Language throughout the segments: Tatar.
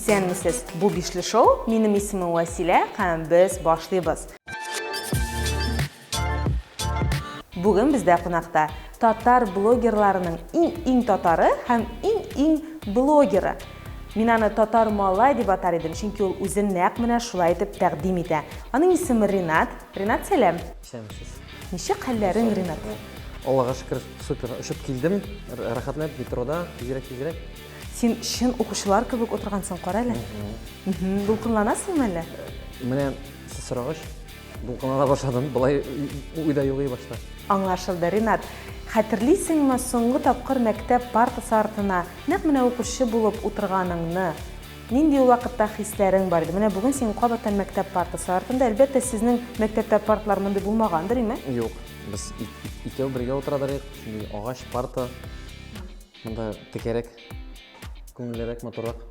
Исәнмесез! Бу бишле шоу. Минем исемем Василә һәм без башлыйбыз. Бүген бездә кунакта татар блогерларының иң-иң татары һәм иң-иң блогеры. Мин аны татар малай дип атар идем, чөнки ул үзен нәкъ менә шулай итеп тәкъдим итә. Аның исеме Ринат. Ринат, сәлам. Исәнмесез. Ничек хәлләрең, Ринат? Аллага шөкер, супер. Очып килдем. Рәхәтләнеп метрода, тизрәк, тизрәк. Син чын укучылар кебек утыргансың, кара әле. Дулкынланасыңмы әллә? Менә сез сорагач, Дулкынлана башладым, былай уйда юк и башта. Аңлашылды, Ринат. Хәтерлисеңме, соңгы тапкыр мәктәп партасы артына нәкъ менә укучы булып утырганыңны? Нинди ул вакытта хисләрең бар иде? Менә бүген син кабаттан мәктәп партасы артында. Әлбәттә, сезнең мәктәптә партлар мондый булмагандыр, име? Юк, без икәү бергә утырадыр идек. Шундый агач парта. Монда текәрәк, күңеллерәк, матуррак.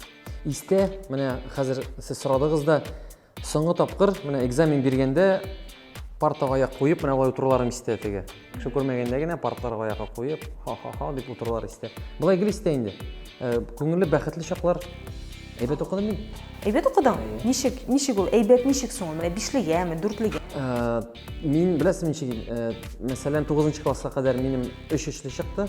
Истә, менә хәзер сез сорадыгыз да, Соңгы тапкыр менә экзамен биргәндә партага аяк куеп менә алай утыруларым истә теге. Кеше күрмәгәндә генә партларга аякка куеп, ха-ха-ха дип утырулар истә. Былай гел истә инде. Э, күңелле, бәхетле чаклар. Әйбәт укыдым мин. Әйбәт укыдың? Ничек, ничек ул? Әйбәт ничек соң ул? Менә бишлегәме, дүртлегә? Э, мин беләсең ничек, э, мәсәлән, 9 класска кадәр минем 3 өчле чыкты.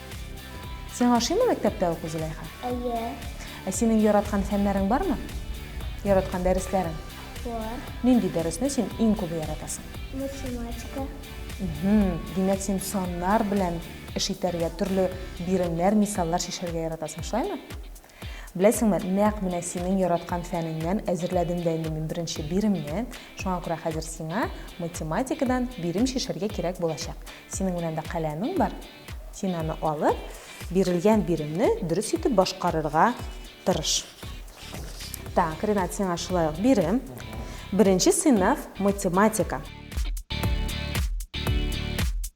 Сиңа ошыймы мәктәптә уку, Зөләйха? Әйе. Ә синең яраткан фәннәрең бармы? Яраткан дәресләрең? Бар. Нинди дәресне син иң күбе яратасың? Математика. Димәк, син саннар белән эш итәргә, төрле биремнәр, мисаллар чишәргә яратасың, шулаймы? Беләсеңме, нәкъ менә синең яраткан фәнеңнән әзерләдем дә инде мин беренче биремне, шуңа күрә хәзер сиңа математикадан бирем чишәргә кирәк булачак. Синең белән дә каләмең бар, син аны алып, бирелгән биремне дөрес итеп башкарырга тырыш. Так, Ринат, сиңа шулай ук бирем. Беренче сыйныф, математика.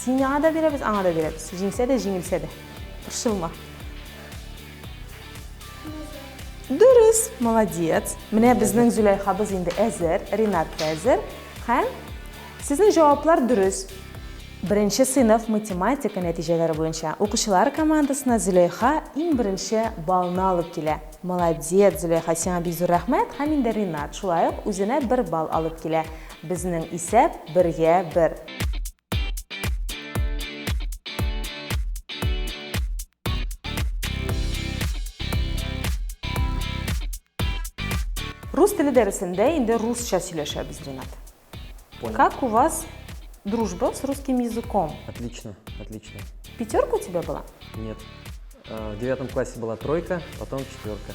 Сиңа да бирәбез, аңа да бирәбез. Җиңсә дә, җиңелсә дә. Борчылма. Дөрес, молодец. Менә безнең Зөләйхабыз инде әзер, Ринат та әзер. Һәм сезнең җаваплар дөрес. Беренче сыйныф математика нәтиҗәләре буенча укучылар командасына Зөләйха иң беренче балны алып килә. Молодец, Зөләйха, сиңа бик зур рәхмәт һәм инде Ринат шулай ук үзенә бер балл алып килә. Безнең исәп бергә бер. Рус теле дәресендә инде русча сөйләшәбез, Ренат. Понял. Как у вас дружба с русским языком? Отлично, отлично. Пятерка у тебя была? Нет. Э, в девятом классе была тройка, потом четверка.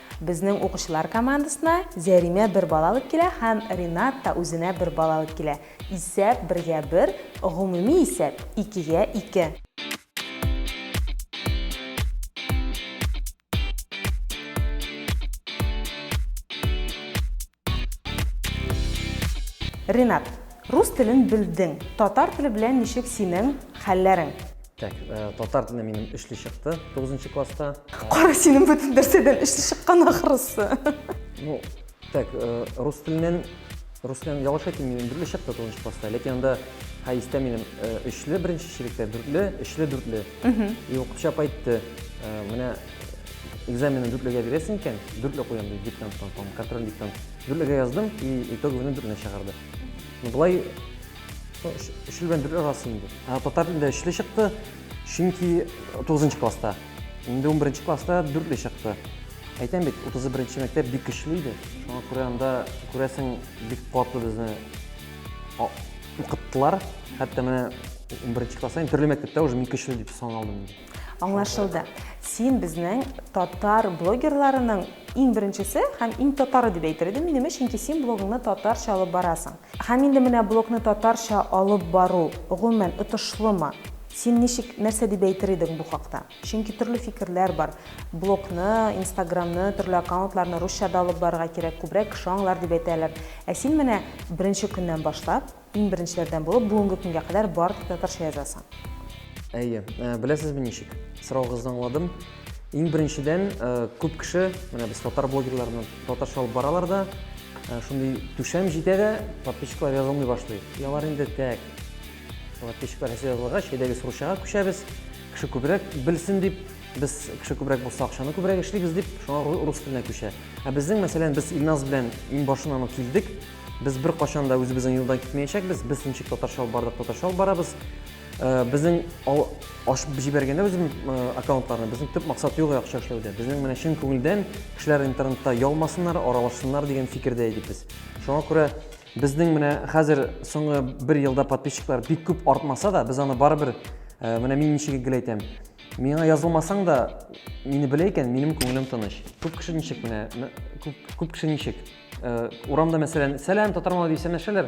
Безнең укучылар командасына Зәримә бер бала алып килә һәм Ринат та үзенә бер бала алып килә. Исәп, бергә бер, гомуми исәп, икегә ике. Ренат, рус телен белдең. Татар теле белән ничек синең хәлләрең? Так, э, татар теле минем өчле чыкты 9 класста. Кара синең бөтен нәрсәдән өчле чыккан ахрысы. Ну, так, э, рус теленнән рус белән ялгыш әйтмим, минем дүртле чыкты 9 класста. Ләкин анда хәйстә минем өчле э, беренче чириктә, дүртле, өчле, дүртле. И укытучы апа әйтте, менә экзаменны дүртлегә бирәсең икән, дүртле куям дип диктанттан, там, контроль диктант. Дүртлегә яздым, и итоговыны дүртле чыгарды. Ну, былай, ну, өчле белән дүртле арасы инде. Ә татар телендә өчле чыкты, чөнки 9 класста. Инде 11 класста дүртле чыкты. Әйтәм бит, 31 мәктәп бик көчле иде. Шуңа күрә анда күрәсең бик катлы безне укыттылар. Хәтта менә 11 класста, төрле мәктәптә уже мин көчле дип саналдым. Аңлашылды. Син безнең татар блогерларының иң беренчесе һәм иң татары дип әйтер идем мин имеш, чөнки син блогыңны татарча алып барасың. Һәм инде менә блогны татарча алып бару, гомумән, отышлымы? Син ничек, нәрсә дип әйтер идең бу хакта? Чөнки төрле фикерләр бар. Блогны, инстаграмны, төрле аккаунтларны русча да алып барырга кирәк, күбрәк кеше аңлар дип әйтәләр. Ә син менә беренче көннән башлап, Иң беренчеләрдән булып бүгенге көнгә кадәр бары тик татарча язасың. Әйе, э, беләсезме ничек? Сораугызны аңладым. Иң беренчедән э, күп кеше, менә без татар блогерларны татарча алып баралар да, э, шундый түшәм җитә дә, подписчиклар язылмый башлый. И алар инде тәк. Подписчиклар һәсе язылырга, чәйдәге сручага күчәбез. Кеше күбрәк белсен дип, без кеше күбрәк булса акчаны күбрәк эшлибез дип, шуңа рус теленә күчә. Ә безнең, мәсәлән, без Илназ белән иң башыннан ук килдек, Без беркайчан да үзебезнең юлдан китмәячәкбез. Без ничек татарча алып бардык, татарча алып барабыз. Э, безнең ашып җибәргәндә үзем э, аккаунтларны безнең төп максат юк акча эшләүдә. Безнең менә чын күңелдән кешеләр интернетта ялмасыннар, аралашсыннар дигән фикердә идек без. Шуңа күрә безнең менә хәзер соңгы бер елда подписчиклар бик күп артмаса да, без аны барыбер э, менә мин ничек гел әйтәм. Миңа язылмасаң да, мине белә икән, минем күңелем тыныч. Күп кеше ничек менә, күп, күп кеше ничек? Э, урамда мәсәлән сәлам татар малай дип сәләмләшәләр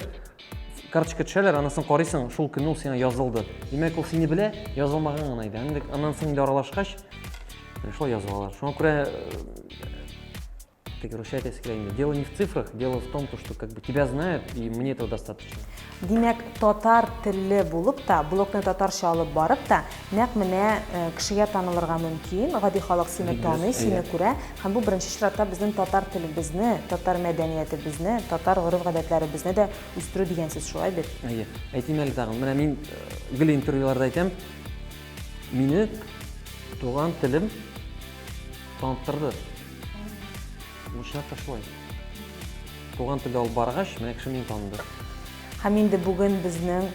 карточка төшәләр аннан соң карыйсың шул көнне ул сиңа язылды димәк ул сине белә язылмаган гына иде инде аннан соң инде аралашкач шулай язып алалар шуңа күрә э, тик русча әйтәсе килә инде дело не в цифрах дело в том то что как бы тебя знают и мне этого достаточно Димәк, татар телле булып та, блогны татарча алып барып та, нәкъ менә кешегә танылырга мөмкин, гади халык сине таный, сине күрә, һәм бу беренче чиратта безнең татар телебезне, татар мәдәниятебезне, татар гореф-гадәтләребезне дә үстерү дигән сүз, шулай бит? Әйе. Әйтим әле тагын, менә мин гел интервьюларда әйтәм, мине туган телем таныттырды. Нишләптер шулай. Туган телдә алып баргач, менә кеше мине таныды. Һәм инде бүген безнең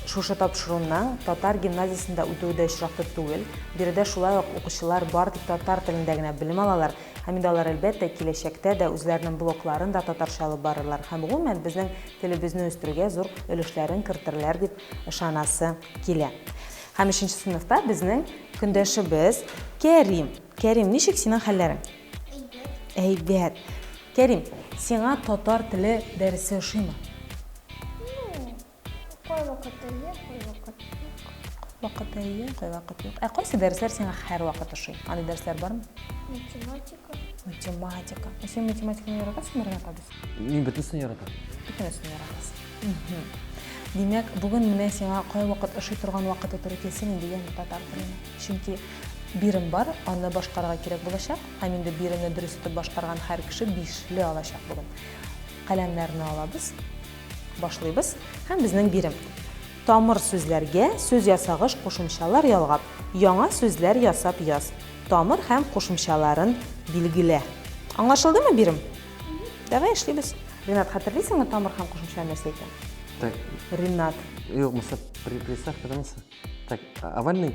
шушы тапшыруның татар гимназиясендә үтүе дә очраклы түгел. Биредә шулай ук укучылар бар тик татар телендә генә белем алалар. Һәм инде алар, әлбәттә, киләчәктә дә үзләренең блокларын да татарча алып барырлар һәм, гомумән, безнең телебезне үстерүгә зур өлешләрен кертерләр дип ышанасы килә. Һәм өченче сыйныфта безнең көндәшебез Кәрим. Кәрим, ничек синең хәлләрең? Әйбәт. Кәрим, сиңа татар теле дәресе ошыймы? Ну, кайвакыт әйе, кайвакыт юк. Вакыт әйе, кайвакыт юк. Ә кайсы дәресләр сиңа һәрвакыт ошый? Андый дәресләр бармы? Математика. Математика. Ә син математиканы яратасыңмы, Ренат абый? Мин бөтенесен яратам. Бөтенесен яратасың. Димәк, бүген менә сиңа кайвакыт ошый торган вакыты туры килсен инде, яме татар телен. Чөнки Бирем бар, аны башкарырга кирәк булачак, һәм инде биремне дөрес итеп башкарган һәр кеше бишле алачак бүген. Каләмнәрне алабыз, башлыйбыз һәм безнең бирем. Тамыр сүзләргә сүз ясагыш кушымчалар ялгап, яңа сүзләр ясап яз. Тамыр һәм кушымчаларын билгелә. Аңлашылдымы бирем? Давай эшлибез. Ренат, хәтерлисеңме тамыр һәм кушымча нәрсә икән? Так. Ренат. Юк, мисал, приставка да мисал. Так, овальный?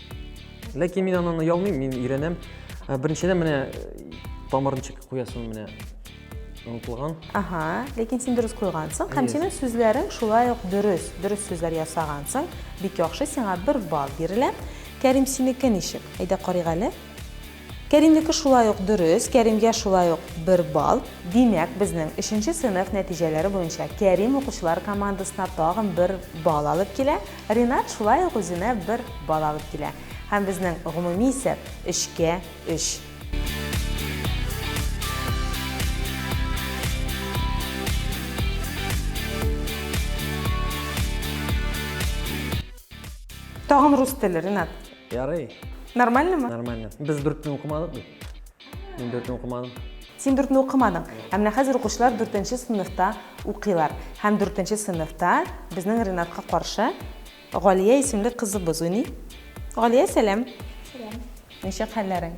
Ләкин мин аннан оялмыйм, мин өйрәнәм. Ә, Беренчедән менә э, тамыр ничек куясын менә онытылган. Ага, ләкин син дөрес куйгансың һәм Yes. синең сүзләрең шулай ук дөрес. Дөрес сүзләр ясагансың. Бик яхшы, сиңа бер балл бирелә. Кәрим, синеке ничек? Әйдә карыйк әле. Кәримнеке шулай ук дөрес, Кәримгә шулай ук бер балл. Димәк, безнең өченче сыйныф нәтиҗәләре буенча Кәрим укучылар командасына тагын бер балл алып килә, Ринат шулай ук үзенә бер балл алып килә. Һәм безнең гомуми исәп, өчкә өч. Тагын рус теле, Ринат. Ярый. Нормальныймы? Нормально. Без дүртне укымадык бит. Мин дүртне укымадым. Син дүртне укымадың. Ә менә хәзер укучылар дүртенче сыйныфта укыйлар. Һәм дүртенче сыйныфта безнең Ренатка каршы Галия исемле кызыбыз уйный. Галия, сәлам. Сәлам. Ничек хәлләрең?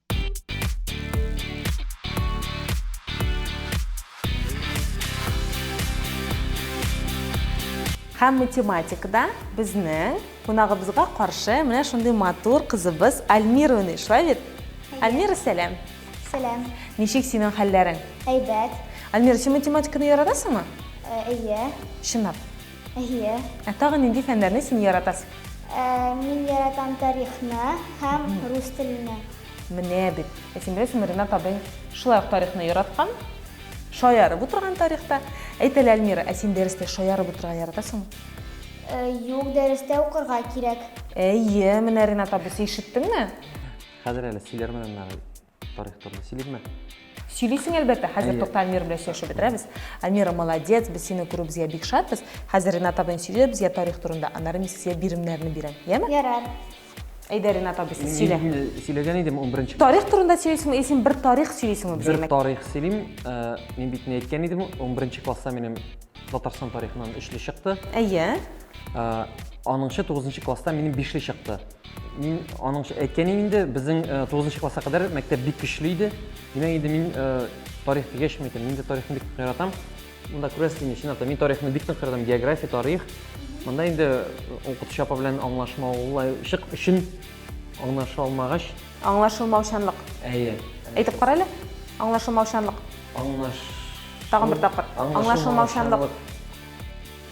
Һәм математикада безнең кунагыбызга каршы менә шундый матур кызыбыз Альмира уйный. Шулай бит? Альмира, сәлам. Сәлам. Ничек синең хәлләрең? Әйбәт. Альмира, син математиканы яратасыңмы? Э, әйе. Чынлап? Әйе. Ә тагын нинди фәннәрне син яратасың? Ә, мин яратам тарихны һәм рус телене. Менә бит. Ә син беләсеңме, Ренат абый шулай ук тарихны яраткан, шаярып утырган тарихта. Әйт әле, Әлмира, ә син дәрестә шаярып утырырга яратасыңмы? Ә, юк, дәрестә укырга кирәк. Әйе, менә Ренат абыйсы, ишеттеңме? Хәзер әле сөйләрмен аннары. Тарих турында сөйлибме? Сөйлисең әлбәттә, хәзер тукта Альмир белән сөйләшеп бетерәбез. Альмира молодец, без сине күрү безгә бик шатбыз. Хәзер Ренат абый сөйләде безгә тарих турында, аннары мин сезгә биремнәрне бирәм. Яме? Ярар. Әйдә Ренат абый сез сөйлә. Сөйләгән идем 11 Тарих турында сөйлисең, исем бер тарих сөйлисең бу Бер тарих сөйлим. Э, мин бит не әйткән идем, 11 класста минем Татарстан тарихыннан 3 чыкты. Әйе. Э, аныңчы 9 класста минем 5 чыкты. Мин аның әйткәне инде, безнең 9 нчы класска кадәр мәктәп бик көчле иде. Димәк инде мин тарих дигәч мин әйтәм, мин дә тарихны бик яратам. Монда күрәсез инде, чынлап та мин тарихны бик нык яратам, география, тарих. Монда инде укытучы апа белән аңлашмаулашык өчен аңлаша алмагач. Аңлашылмаучанлык. Әйе. Әйтеп кара әле. Аңлашылмаучанлык. Аңлаш. Тагын бер тапкыр. Аңлашылмаучанлык.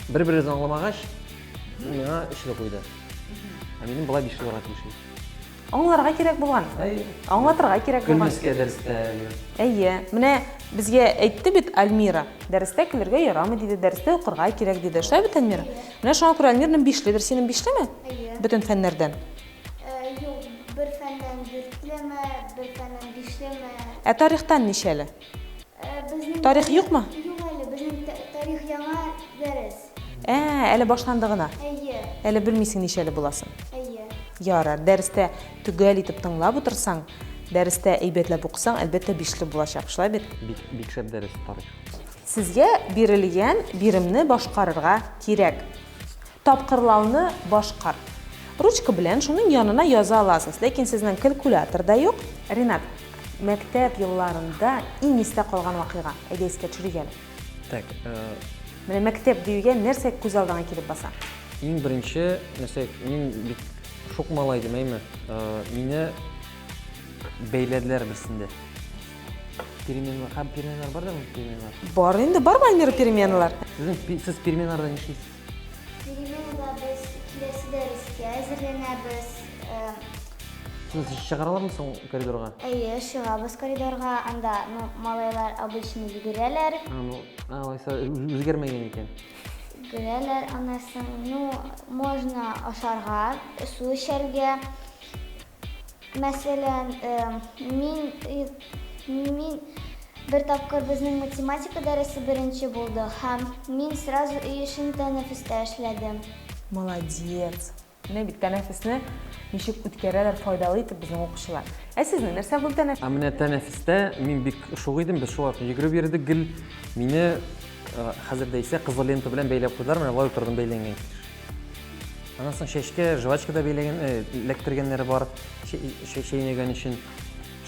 Бер-беребезне аңламагач, ул миңа өч ел куйды. Ә минем болай биш елларга тиешли. Аңларга кирәк булган. Әйе. Аңлатырга кирәк булган. Көлмәскә дәрестә. Әйе. Менә безгә әйтте бит Альмира, дәрестә көлергә ярамый диде, дәрестә укырга кирәк диде. Шулай бит, Альмира? Менә шуңа күрә Альмирның бишледер. Синең бишлеме? Әйе. Бөтен фәннәрдән. Э, юк, бер фәннән дүртлеме, бер фәннән бишлеме. Ә тарихтан ничәле? Тарих юкмы? Юк әле, безнең тарих яңа дәрес. Ә, әле башланды гына. Әйе. Әле белмисең ничәле буласын. Әйе. Ярар, дәрестә төгәл итеп тыңлап утырсаң, дәрестә әйбәтләп укысаң, әлбәттә бишле булачак, шулай бит? Бик, бик шәп дәрес тарих. Сезгә бирелгән биремне башкарырга кирәк. Тапкырлауны башкар. Ручка белән шуның янына яза аласыз, ләкин сезнең калькулятор да юк. Ринат, мәктәп елларында иң истә калган вакыйга, әйдә искә төшерик әле. Так, э, Менә мәктәп диюгә нәрсә күз алдыңа килеп баса? Иң беренче нәрсә, мин бик шук малай идем, әйме. Э, мине бәйләделәр берсендә. Переменалар, һәм переменалар бар да, переменалар. Бар инде, бар Мальмира переменалар. Сезнең сез переменаларда нишлисез? Тегене узабыз, киләсе дәрескә әзерләнәбез. Сез чыгаралармы соң коридорга? Әйе, чыгабыз коридорга, анда ну, малайлар обычно йөгерәләр. А, ну, а, алайса үзгәрмәгән икән. Йөгерәләр, аннан соң, ну, можно ашарга, су эчәргә. Мәсәлән, мин мин бер тапкыр безнең математика дәресе беренче булды һәм мин сразу өй эшен тәнәфестә эшләдем. Молодец! Менә бит тәнәфесне ничек үткәрәләр файдалы итеп безнең укучылар. Ә сезнең нәрсә булды тәнәфес? Ә менә тәнәфестә мин бик шук идем, без шул арада йөгереп йөрдек гел. Мине хәзер дә исә кызыл лента белән бәйләп куйдылар, менә болай утырдым бәйләнгән килеш. Аннан соң чәчкә жвачка да бәйләгән, э, эләктергәннәре бар, чәйнәгән өчен.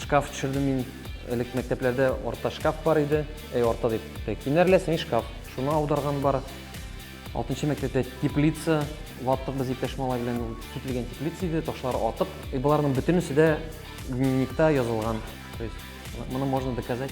Шкаф төшердем мин, элек мәктәпләрдә орта шкаф бар иде, әй, орта дип, кинәрләсен шкаф, шуны аударган бар. Алтынчы мәктәптә теплица ваттык без иптәш малай белән, ул кителгән теплица иде, ташлар атып, и боларның бөтенесе дә дневникта язылган. То есть, моны можно доказать.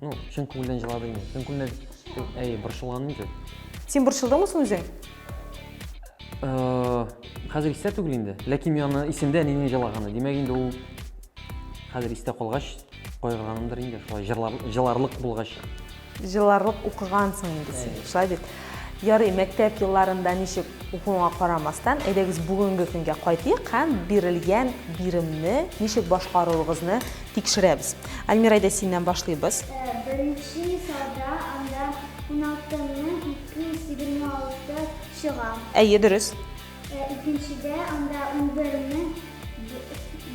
Ну, чын күңелдән җылады инде. Чын күңелдән әй борчылган инде. Син борчылдыңмы соң үзең? Э, хәзер истә түгел инде. Ләкин мин аны исемдә әнинең җылаганы. Димәк инде ул хәзер истә калгач кайгырганымдыр инде. Шулай җырлар, җыларлык булгач. Җыларлык укыгансың инде син. Шулай бит. Ярый, мәктәп елларында ничек укуыңа карамастан, әйдәгез бүгенге көнгә кайтыйк һәм бирелгән биремне ничек башкаруыгызны Тикшерәбез. Альмира, әйдә синнән башлыйбыз. Беренче сорда анда 16 мең 226 чыга. Әйе, дөрес. Икенчедә анда 11 мең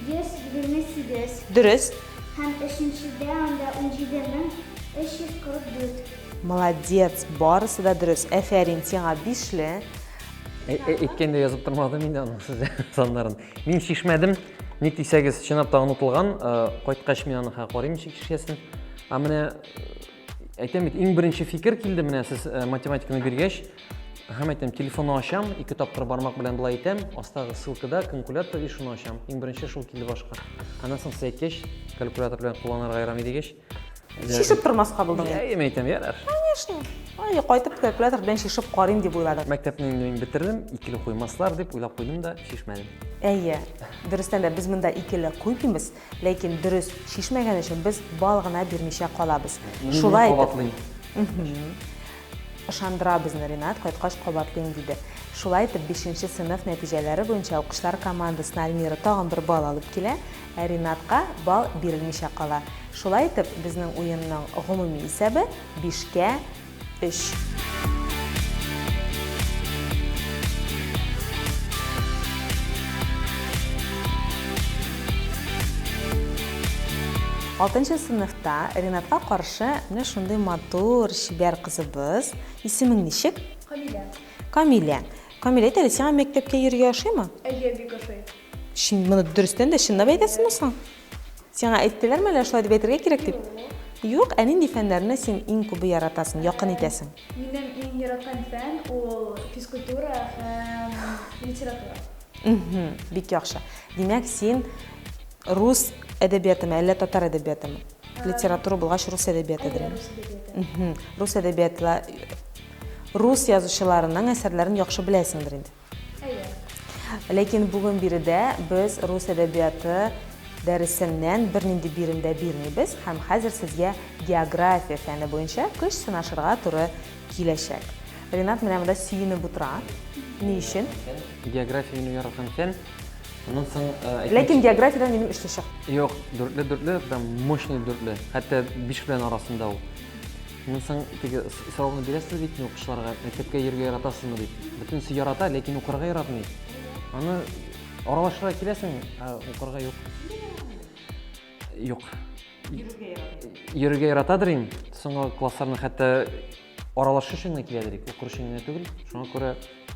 128. Дөрес. Һәм өченчедә анда 17 мең 344. Молодец, барысы да дөрес. Әфәрин, сиңа бишле. Әйткәндә язып тормадым инде аның сезгә саннарын. Мин шишмәдем. Ник дисәгез, чынлап та онытылган, кайткач мин аны карыйм ничек эшләсен. Ә менә әйтәм бит, иң беренче фикер килде менә сез математиканы биргәч, һәм әйтәм, телефонны ачам, ике тапкыр бармак белән былай итәм, астагы ссылкада калькулятор и шуны ачам. Иң беренче шул килде башка. Аннан соң сез әйткәч, калькулятор белән кулланырга ярамый дигәч, шешеп тормаска булдың инде әйе әйтәм ярар конечно әйе кайтып та келәтер белән шешеп карыйм дип уйладым мәктәпне инде мин бетердем икеле куймаслар дип уйлап куйдым да шешмәдем әйе дөрестән дә без монда икеле куймыйбыз ләкин дөрес шешмәгән өчен без бал гына бирмичә калабыз шулай кабатлыйм ышандыра безне ринат кайткач кабатлыйм диде шулай итеп бишенче сыйныф нәтиҗәләре буенча укучылар командасына альмира тагын бер бал алып килә Ә Ринатка балл бирелмичә кала. Шулай итеп, безнең уенның гомуми исәбе, бишкә өч. Алтынчы сыйныфта Ринатка каршы менә шундый матур, чибәр кызыбыз. Исемең ничек? Камилә. Камилә. Камилә, әйтәле, сиңа мәктәпкә йөрергә ошыймы? Әйе, бик ошый. Чин, моны дөрестән дә чынлап әйтәсеңме соң? Сиңа әйттеләрме әллә шулай дип әйтергә кирәк дип? Юк, ә нинди фәннәрне син иң күбе яратасың, якын итәсең? Минем иң яраткан фән ул физкультура һәм литература. Мһм, бик яхшы. Димәк, син рус әдәбиятымы, әллә татар әдәбиятымы? Литература булгач, рус әдәбиятыдыр. Әйе, рус әдәбияты. Мһм, рус әдәбияты, рус язучыларының әсәрләрен яхшы беләсеңдер инде? Әйе. Ләкин бүген биредә без рус әдәбияты дәресеннән бернинди бирем дә бирмибез һәм хәзер сезгә география фәне буенча көч сынашырга туры киләчәк. Ренат менә монда сөенеп утыра. Ни өчен? Географияне яраткан икән. Аннан соң э, Ләкин географиядән минем өчле чык. Юк, дүртле дүртле, прям мощный дүртле. Хәтта биш белән арасында ул. Мин соң теге сорауны бирәсез бит мин укучыларга, мәктәпкә йөрергә яратасызмы дип. Бөтенесе ярата, ләкин укырга яратмый. Аны аралашырга киләсең, ә укырга юк. Юк. Йөрергә ярата. Йөрергә яратадыр ин. Соңгы классларны хәтта аралашу өчен генә киләдер ик, укыр өчен генә түгел. Шуңа күрә,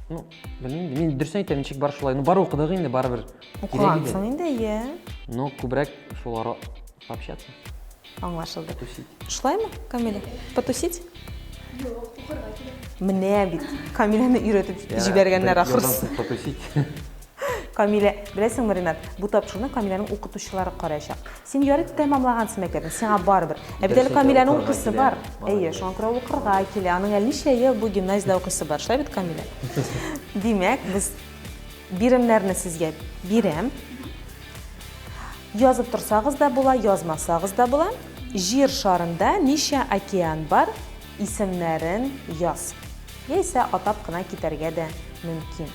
ну, белмим, мин дөресен әйтәм, ничек бар шулай. Ну, бар укыдык инде, барыбер. Укыгансың инде, иә. Но күбрәк шул ара общаться. Аңлашылды. Потусить. Шулаймы, Камиля? Потусить? Юк, укырга килә. Менә бит. Камиляны өйрәтеп җибәргәннәр ахрысы. Ярдан потусить. Камиля, беләсеңме, Ренат, бу тапшыруны Камиляның укытучылары караячак. Син ярып тәмамлагансың мәктәпне, сиңа барыбер. Ә бит әле Камиляның укысы бар. Әйе, шуңа күрә укырга килә. Аның әле ничә ел бу гимназиядә укысы бар. Шулай бит, Камиля? Димәк, без биремнәрне сезгә бирәм. Язып торсагыз да була, язмасагыз да була. Җир шарында ничә океан бар? Исемнәрен яз. Яисә атап кына китәргә дә мөмкин.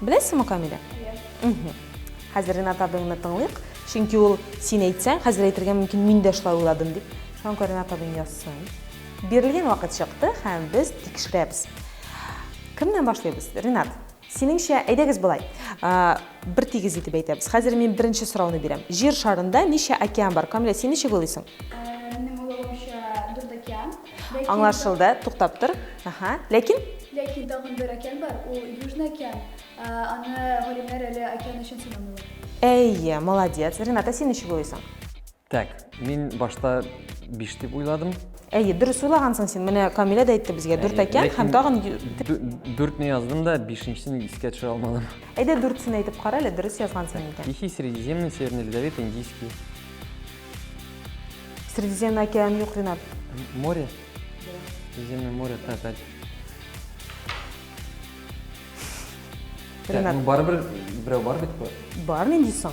Беләсеңме, Камилә? Мгм. Хәзер Ренат абыеңны тыңлыйк, чөнки ул син әйтсәң, хәзер әйтергә мөмкин, мин дә шулай уйладым дип. Шуңа күрә Ренат абыең язсын. Бирелгән вакыт чыкты һәм без тикшерәбез. Кемнән башлыйбыз? Ренат, Синеңчә, әйдәгез болай, бер тигез итеп әйтәбез. Хәзер мин беренче сорауны бирәм. Җир шарында ничә океан бар? Камилә, син ничек уйлыйсың? Минем уйлавымча, дүрт океан. Аңлашылды, туктап тор. Аха. Ләкин? Ләкин тагын бер океан бар, ул Южный океан. Аны галимнәр әле океан өчен санамыйлар. Әйе, молодец. Рената, син ничек уйлыйсың? Так, мин башта биш дип уйладым. Әйе, дөрес уйлагансың син. Менә Камилә дә әйтте безгә, дүрт әкән һәм тагын... Дүртне яздым да, бишенчесен искә төшерә алмадым. Әйдә дүртсен әйтеп кара әле, дөрес язгансың икән. Тихий Средиземный, Северный Ледовит, Индийский. Средиземный океан юк, Ренат. Море? Средиземное море, так, так. Ренат. Ну, барыбер берәү бар бит. Бар, нинди соң?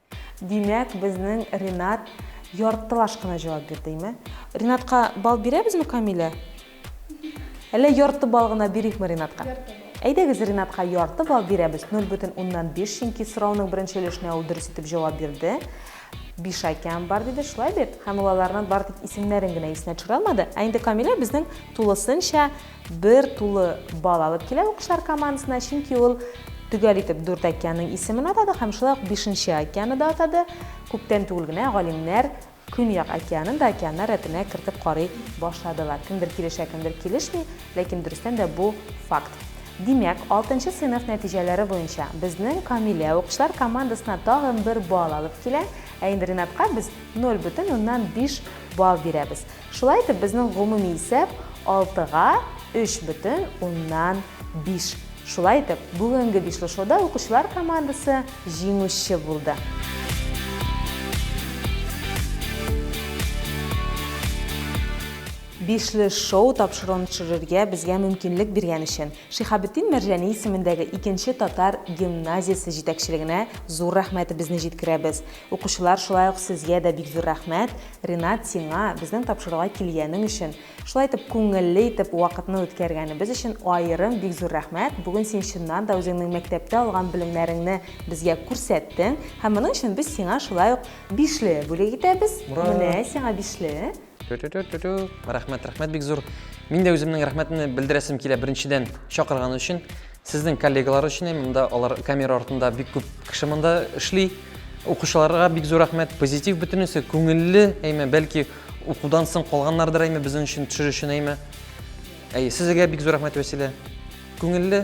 Димәк, безнең Ренат яртылаш кына җавап бирдеме? Ренатка бал бирәбезме, Камилә? Әллә ярты бал гына бирикме Ренатка? Ярты бал. Әйдәгез, Ренатка ярты бал бирәбез, 0,5, чөнки сорауның беренче өлешенә ул дөрес итеп җавап бирде. Бишакям бар диде, шулай бит? Һәм ул аларның бары тик исемнәрен генә исенә төшерә алмады. Ә инде Камилә безнең тулысынча Бер тулы балл алып килә Укышлар командасына, чөнки ул төгәл итеп дүрт океанның исемен атады һәм шулай ук бишенче океаны да атады. Күптән түгел генә галимнәр Көньяк океанын да океаннар рәтенә кертеп карый башладылар. Кемдер килешә, кемдер килешми, ләкин дөрестән дә бу факт. Димәк, алтынчы сыйныф нәтиҗәләре буенча безнең Камилә укышлар командасына тагын бер балл алып килә, ә инде Ринатка без 0,5 балл бирәбез. Шулай итеп, безнең гомуми исәп алтыга өч бөтен уннан биш. Шулай итеп, бүгенге бишлешоуда укучылар командасы җиңүче булды. Бишлешоу тапшыруын төшерергә безгә мөмкинлек биргән өчен Шиһабетдин Мәрҗани исемендәге икенче татар гимназиясе җитәкчелегенә зур рәхмәтебезне җиткерәбез. Укучылар, шулай ук сезгә дә бик зур рәхмәт, Ринат, сиңа, безнең тапшыруга килгәнең өчен, шулай итеп күңелле итеп вакытны үткәргәнебез өчен аерым бик зур рәхмәт, бүген син чыннан да үзеңнең мәктәптә алган белемнәреңне безгә күрсәттең һәм моның өчен без сиңа шулай ук бишле бүләк итәбез, менә сиңа бишле. Рәхмәт, рәхмәт бик зур. Мин дә үземнең рәхмәтемне белдерәсем килә беренчедән чакырган өчен. Сезнең коллегалар өчен һәм монда алар камера артында бик күп кеше монда эшли. Укучыларга бик зур рәхмәт. Позитив бөтенесе күңелле, әйме, бәлки укудан соң калганнардыр әйме безнең өчен төшер өчен әйме. Әй, сезгә бик зур рәхмәт Вәсилә. Күңелле,